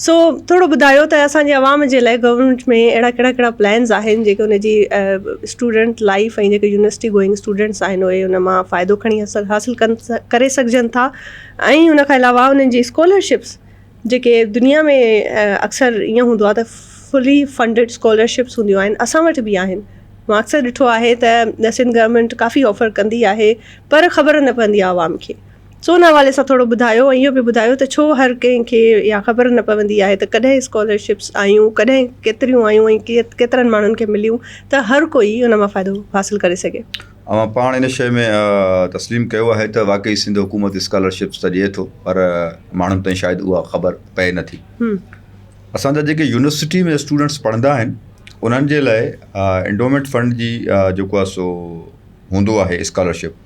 سو ٿورو ٻڌايو ته اسان جي عوام جي لاء گورنمينٽ ۾ اهڙا ڪهڙا ڪهڙا پلانز آهن جيڪي ان جي اسٽوڊنٽ لائيف ۽ جيڪي يونيورسٽي گوئنگ اسٽوڊنٽس آهن اهي ان مان فائدو کڻي حاصل ڪن ڪري سگهجن ٿا ۽ ان کان علاوه انهن جي اسڪالرشپس جيڪي دنيا ۾ اڪثر ائين هوندو آهي ته فلي فنڊيڊ اسڪالرشپس هونديون آهن اسان وٽ به آهن مون اڪثر ڏٺو آهي ته سنڌ گورنمينٽ ڪافي آفر ڪندي آهي پر خبر نه پوندي آهي عوام کي سو ان حوالي سان ٿورو ٻڌايو ۽ اهو به ٻڌايو ته ڇو هر ڪنهن کي اها خبر نه پوندي آهي ته ڪڏهن اسڪالرشپس آيون ڪڏهن ڪيتريون آيون ۽ ڪيترن ماڻهن کي مليون ته هر ڪوئي ان مان فائدو حاصل ڪري سگهي. اوهان پاڻ ان شيء ۾ تسليم ڪيو آهي ته واقعي سنڌ حڪومت اسڪالرشپس ته ڏئي ٿو پر ماڻهن تائين شايد اها خبر پئي نه ٿي. اسان جا جيڪي يونيورسٽي ۾ اسٽوڊنٽس پڙهندا آهن انهن جي لاء انڊومينٽ فنڊ جي جيڪو آهي سو هوندو آهي اسڪالرشپ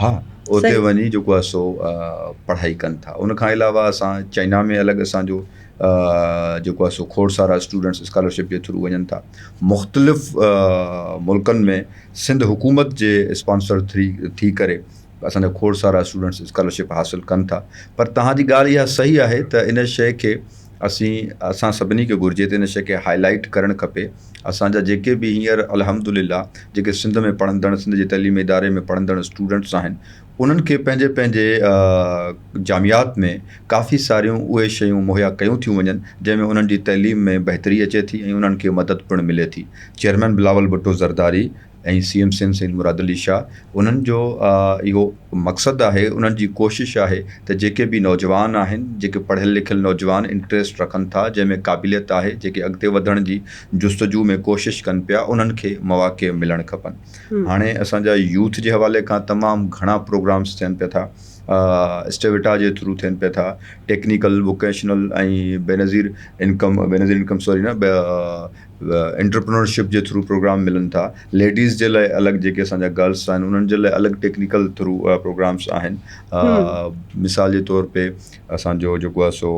ها اتي وڃي جيڪو آهي سو پڙهائي ڪن ٿا ان کان علاوه اسان چائنا ۾ الڳ اسانجو جيڪو آهي سو کوڙ سارا اسٽوڊنٽس اسڪالرشپ جي ٿرو وڃن ٿا مختلف ملڪن ۾ سنڌ حڪومت جي اسپانسر ٿري ٿي ڪري اسانجا کوڙ سارا اسٽوڊنٽس اسڪالرشپ حاصل ڪن ٿا پر تهانجي ڳالهه اها صحيح آهي ته ان شيء کي اسين اسان سڀني کي گهرجي ته ان شئي کي هاء لائيٽ ڪرڻ کپي اسان جا جيڪي به هينئر الحمد لله جيڪي سنڌ ۾ پڙهندڙ سنڌ جي تعليمي اداري ۾ پڙهندڙ اسٽوڊنٽس آهن انهن کي پنهنجي پنهنجي جامعات ۾ ڪافي ساريون اهي شيون مهيا ڪيون ٿيون وڃن جنهن ۾ انهن جي تعليم ۾ بهتري اچي ٿي ۽ انهن کي مدد پڻ ملي ٿي chairman Bilawal Bhutto Zardari ۽ C M Sindh Syed Murad Ali Shah انهن جو اهو مقصد آهي انهن جي ڪوشش آهي ته جيڪي به نوجوان آهن جيڪي پڙهيل لکيل نوجوان انٽريسٽ رکن ٿا جنهن ۾ قابليت آهي جيڪي اڳتي وڌڻ جي جستجو ۾ ڪوشش ڪن پيا انهن کي مواقع ملڻ کپن هاڻي اسان جا يوٿ جي حوالي کان تمام گهڻا پروگرامس ٿين پيا ٿا اسٽيويٽا جي ٿرو ٿين پيا ٿا technical vocational ۽ Benazir income Benazir income sorry نه انٽرپرينورشپ جي ٿرو پروگرام ملن ٿا ليڊيز جي لاء الڳ جيڪي اسان جا گرلس آهن انهن جي لاء الڳ ٽيڪنيڪل ٿرو پروگرامس آهن مثال جي طور تي اسانجو جيڪو آهي سو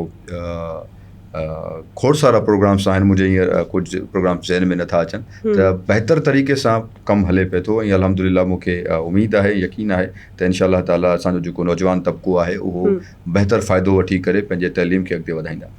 کوڙ سارا پروگرامس آهن منهنجي هينئر ڪجهه پروگرامس ذهن ۾ نٿا اچن ته بهتر طريقي سان ڪم هلي پئي ٿو ۽ الحمد لله مون کي اميد آهي يقين آهي ته انشاء الله تعالٰي اسانجو جيڪو نوجوان طبقو آهي اهو بهتر فائدو وٺي ڪري پنهنجي تعليم کي اڳتي وڌائيندا